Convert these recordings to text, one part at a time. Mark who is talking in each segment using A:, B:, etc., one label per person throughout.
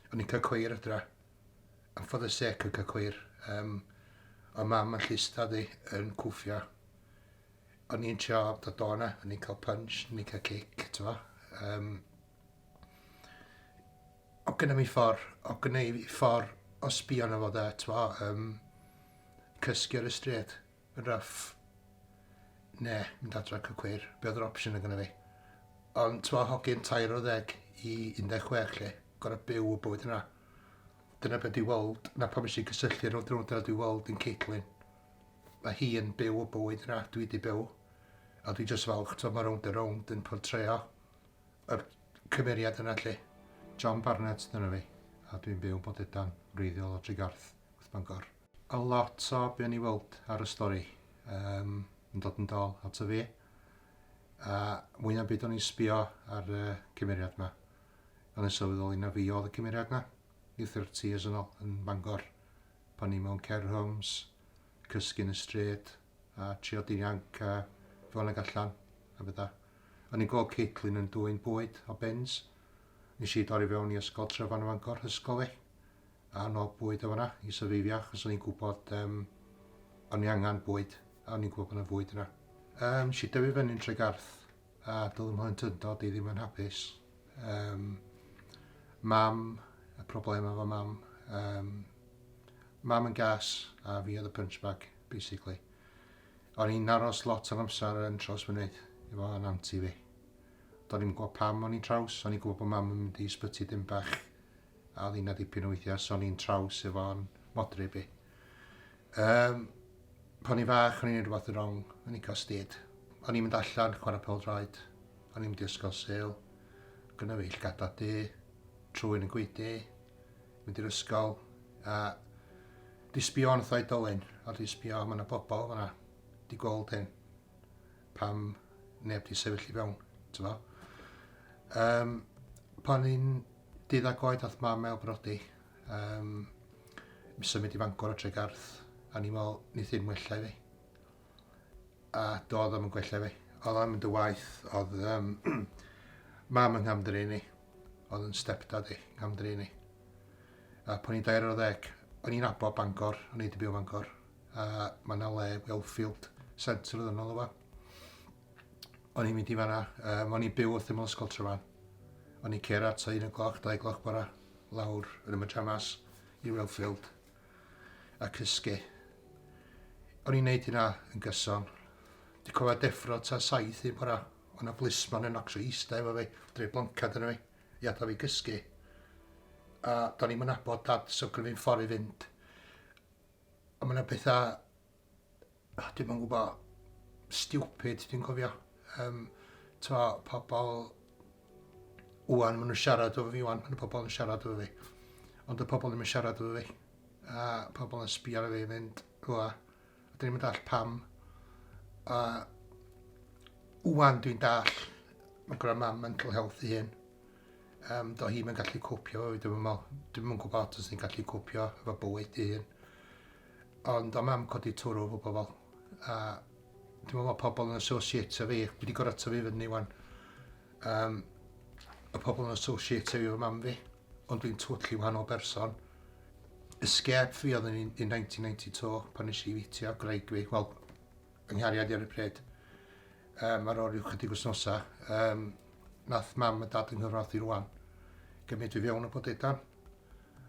A: O'n i'n cael cweir adra. Am for the sake yn cael cweir. Um, o mam yn llista ddi yn cwffio. O'n i'n trio da dona, o'n i'n cael punch, o'n i'n cael cic, ti'n fo. Um, o gyda mi ffordd, o gyda mi ffordd o sbio na fod e, ti'n fo, um, cysgu ar y stryd. Rough. Ne, mynd adra cy cwyr. Be oedd yr opsiwn yn gyda fi? Ond, ti'n meddwl, hogyn tair o ddeg i 16, lle? Gorau byw y bywyd yna. Dyna beth dwi weld, na pam eisiau cysylltu rhywun drwy dyna dwi weld yn Caitlin. Mae hi yn byw y bywyd yna, dwi wedi byw. A dwi jyst falch, ti'n mae rownd a rownd yn portreo yr cymeriad yna, lle. John Barnett, dyna fi. A dwi'n byw yn Bodedan, wreiddiol o Tregarth, Wrth Bangor. A lot o be o'n i weld ar y stori um, yn dod yn dol at y fi. A mwy na byd o'n i'n sbio ar y uh, cymeriad yma. O'n i'n sylweddoli na fi oedd y cymeriad yma. Ni 30 years yn ôl yn Bangor. Pan ni mewn care homes, cysgu'n y stryd, a trio dinianc a fewn ag allan, a bydda. O'n i'n gweld Caitlin yn dwy'n bwyd o bens. Nes i dorri fewn i ysgol Tryfan y Fangor, hysgol e. anodd bwyd yn fan'na i syfeifio achos o'n i'n gwybod um, o'n i angen bwyd a o'n i'n gwybod bod yna fwyd yna. Um, si dyfu fyny'n Tregarth a doedd yn hwynt yndod i ddim yn hapus. Um, mam, y problemau efo mam, um, mam yn gas a fi oedd y punchbag, basically. O'n i'n aros lot o'n amser yn traws mynydd efo yn anti fi. Do'n i'n gwybod pam o'n i'n traws, o'n i'n gwybod bod mam yn mynd i sbyty dim bach a oedd 'na dipyn o weithiau son i'n traws efo'n modryb i. Um, pan i'n fach, o'n i'n gwneud rhywbeth yn wrong, o'n i'n cael styd. O'n i'n mynd allan, chwarae pel droed, o'n i'n mynd i ysgol sel, gyda fi llgada di, trwy'n y gwydi, mynd i'r ysgol, a di sbio yn thoi dolyn, a di sbio, mae yna bobl fyna, di gweld hyn, pam neb di sefyll i fewn, ti'n fo. Um, pan i'n Dydd Agoed ath mam mewn brodi. Um, mi symud i Fangor o Tregarth. A ni mol, ni ddim wella i fi. A do, ddim yn gwella fi. Oedd am yn dy waith, oedd um, mam yng Nghamdri ni. Oedd yn stepdad i, Nghamdri ni. A pan i'n dair o ddeg, o'n i'n abo Bangor, o'n i'n dibio Bangor. A mae yna le, Wellfield, Centre oedd yno, o'n i'n mynd i fanna. Um, o'n i'n byw wrth ymlaen ysgol Trefarn. O'n i'n cera ta un o gloch, dau gloch bora, lawr yn y myjamas i Wellfield a cysgu. O'n i'n neud hynna yn gyson. Di cofio deffro ta saith un bora, o'n a blismon yn ocsio eista efo fi, dre blancad yn fi, i adal fi gysgu. A do'n i'n mynabod dad, so gwrdd fi'n ffordd i fynd. A mae'n bethau Dim yn gwybod. Stupid, dwi'n cofio. Um, to, pobl... Wan, maen nhw'n siarad o fi wan, maen nhw pobl yn siarad o fi. Ond y pobl ddim yn siarad o fi. A pobl yn sbio ar fi yn mynd, rwa. A dyn ni'n mynd all pam. A wan dwi'n dall, mae'n gwrdd mam mental health i hyn. Um, do hi'n gallu cwpio, dwi'n meddwl, dwi'n meddwl gwybod os ni'n gallu cwpio efo bywyd i hyn. Ond o'm mam codi twrw efo pobl a dwi'n meddwl bod pobl yn associate efo fi, wedi gorfod tyfu fyny wan. Um, y pobl yn associate efo mam fi, ond dwi'n twtli wahanol berson. Escape fi oedd yn 1992 pan nes i fitio graig fi, wel, yng nghariad ar y pryd. Um, ar ôl rhyw chydig wythnosau, um, nath mam a dad yng Nghymru i rwan gymryd fi fewn o bod edan.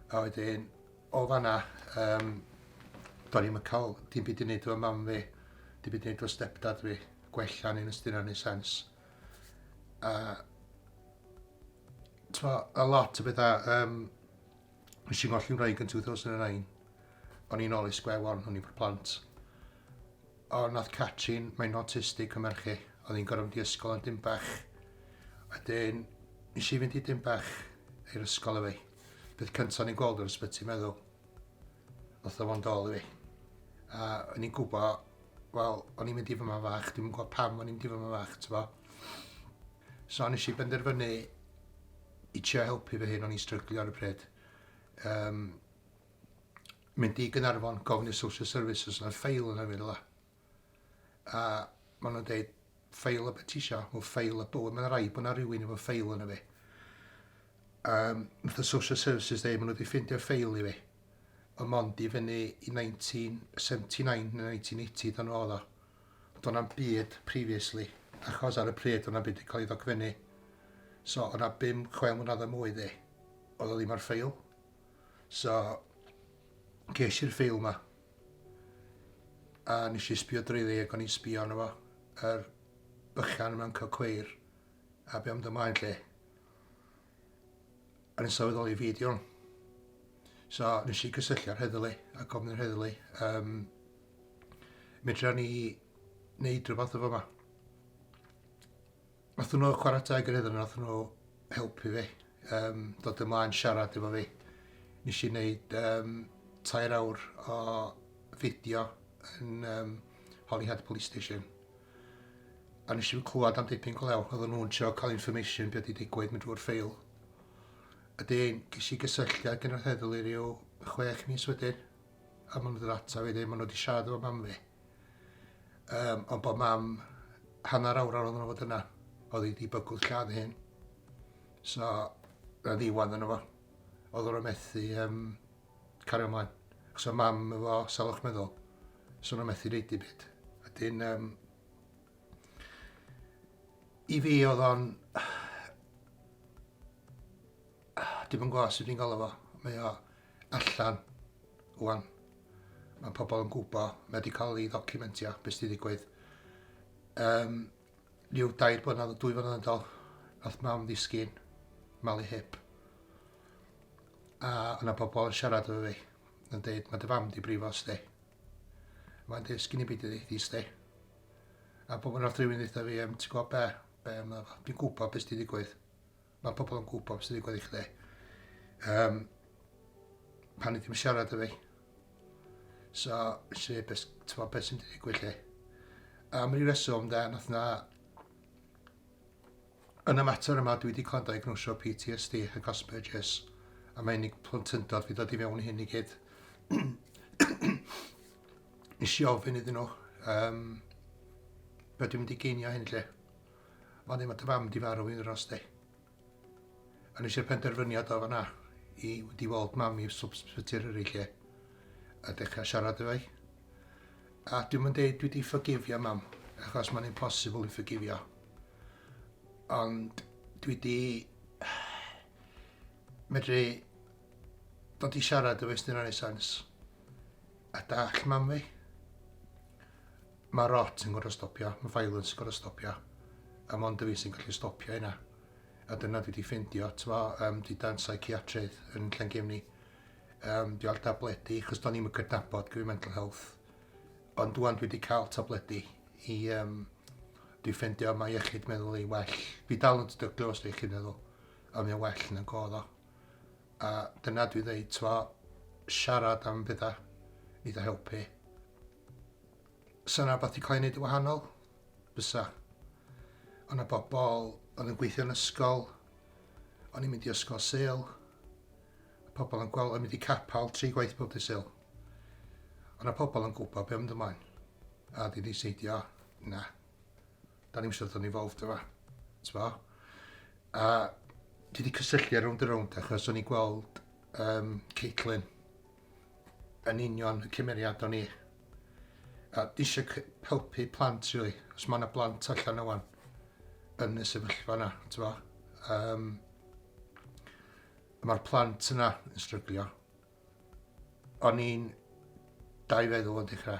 A: A wedyn, O fanna, um, do'n i'm yn cael dim byd i wneud efo mam fi, dim byd i wneud efo stepdad fi, gwella ni'n ystyn ar ni sens. A, twa, a lot o bethau, um, nes i'n golli'n rhaid yn 2009, o'n i'n ôl i sgwef o'n hwn i'n plant. O, nath Catrin, mae'n autistic yn merchu, oedd hi'n gorfod mynd i ysgol yn dim bach. A dyn, nes i fynd i dim bach i'r ysgol efo Peth cyntaf o'n i'n gweld o'r ysbyty meddwl, oedd o'n dol i fi. A o'n i'n gwybod, wel, o'n i'n mynd i fy ma'n fach, dwi'n gwybod pam o'n i'n mynd i fy ma'n fach, ti'n bo. So nes i benderfynu i trio helpu fy hyn, o'n i'n stryglio ar y pryd. Um, mynd i Gynarfon, gofyn i'r social services, yna'r ffeil yna fi, dda. a maen nhw'n dweud ffeil y betisio, o ffeil y bywyd, mae'n rhaid bod yna rhywun efo ffeil yna fi. Um, nath y Social Services dweud, maen nhw wedi ffeindio'r ffeil i fi. Ond mond i fyny i 1979 neu 1980 dan oedd o. Do'n am byd previously, achos ar y pryd o'n am byd wedi cael ei ddogfennu. So o'na bum chwe mlynedd o mwy ddi, oedd o ddim ar ffeil. So, ges i'r ffeil yma. A nes i sbio drwyddi ac o'n i'n sbio arno fo, yr bychan yma'n cael cweir, a be am dy mlaen lle? A nes sylweddoli fi di hwn. So nes i gysylltu ar heddlu a gofyn yr heddlu, um, medra ni wneud rhywbeth efo yma. Wnaethon nhw chwarae teg yr iddyn nhw, wnaethon nhw helpu fi um, dod ymlaen siarad efo fi. Nes i wneud um, tair awr o fideo yn um, Holyhead Police Station. A nes i'n clywed am dipyn glew, oedden nhw'n trio cael information beth i digwydd mynd drwy'r ffeil. A dyn, ges i gysylltiad gyda'r heddlu rhyw chwech mis wedyn. A maen nhw wedi ddod ata fi, maen nhw wedi siarad efo mam fi. Um, ond bod mam hanner awr ar ôl nhw fod yna, oedd hi di bygwth lladd hyn. So, na ddiwan yna fo. Oedd nhw'n methu um, cario ymlaen. Os o mam efo salwch meddwl, so nhw'n methu neud i byd. A dyn, um, i fi oedd o'n... Dim yn gwybod sut fi'n gael efo. Mae o allan wan. Mae pobl yn gwybod, mae wedi cael ei ddocumentio, beth sydd wedi digwydd. Um, rhyw dair blynedd, dwy blynedd yn dol, nath mam ddisgyn, malu hip. A yna pobl yn siarad efo fi, yn dweud, mae dy fam di brifo sti. Mae'n dweud, sgyn i byd i ddeithio sti. A pobl yn rhywun ddeitha fi, um, ti'n gwybod be, be yma, dwi'n gwybod beth sydd wedi digwydd. Mae pobl yn gwybod beth sy'n digwydd i chdi. Um, pan ydym siarad â fi. So, si, beth, tyfo, beth sy'n digwydd chi. Am ryw reswm, da, nath na... Yn y mater yma, dwi wedi cael diagnosio PTSD a Cospergus, a mae unig plentyndod fi dod i fewn hyn i gyd. Nes i ofyn iddyn nhw, um, be dwi'n mynd i geinio hyn lle? Ond ddim at dy fam di farw yn yr oste. A nes i'r penderfyniad o fanna i fynd i weld mam i sbyty Eryri lle a dechrau siarad efo i. A dwi'm yn deud dwi di ffygifio mam, achos mae'n impossible i ffygifio. Ond dwi di medru dod i siarad efo i sdyna neu sans a dall mam fi. Mae rot yn gorfod stopio, mae violence yn gorfod stopio, a mond y fi sy'n gallu stopio hynna. A dyna dwi wedi ffeindio, tyma, um, di dan psychiatrydd yn Llangefni. Um, dwi ar tabledi, chos do'n i'm yn cydnabod gyda mental health. Ond dwi'n dwi wedi cael tabledi i um, dwi ffeindio mae iechyd meddwl ei well. Fi dal yn dydyglu os dwi'n iechyd meddwl, a mae'n well yn y godd o. A dyna dwi'n dweud, twa, siarad am bethau, eitha helpu. Sa 'na wbath 'di cael ei wneud yn wahanol? Bysa. O' 'na bobl oedd yn gweithio yn ysgol, o'n i'n mynd i ysgol Sul, pobl yn gweld o'n mynd i capel tri gwaith bob dydd Sul. O' 'na pobl yn gwybod be' mynd ymlaen, a di seidio, na, da ni'n siarad o'n involved yma, t'bo? A dwi wedi cysylltu ar rownd a rownd achos o'n i'n gweld um, Caitlin, yn union y cymeriad o'n i. A eisiau helpu plant, really. Os mae yna blant allan o wan yn y sefyllfa yna, ti'n fo. Um, Mae'r plant yna yn stryglio. O'n i'n dau feddwl o dechrau.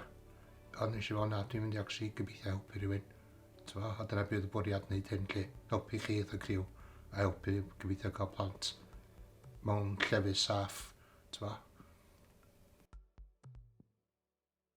A: Ond nes i fod, na, dwi'n mynd i actually gobeithio helpu rhywun. T'mo', a dyna be' oedd y bwriad wneud hyn 'lly, helpu chi fatha criw, a helpu gobeithio cael plant mewn llefydd saff, t'mo'.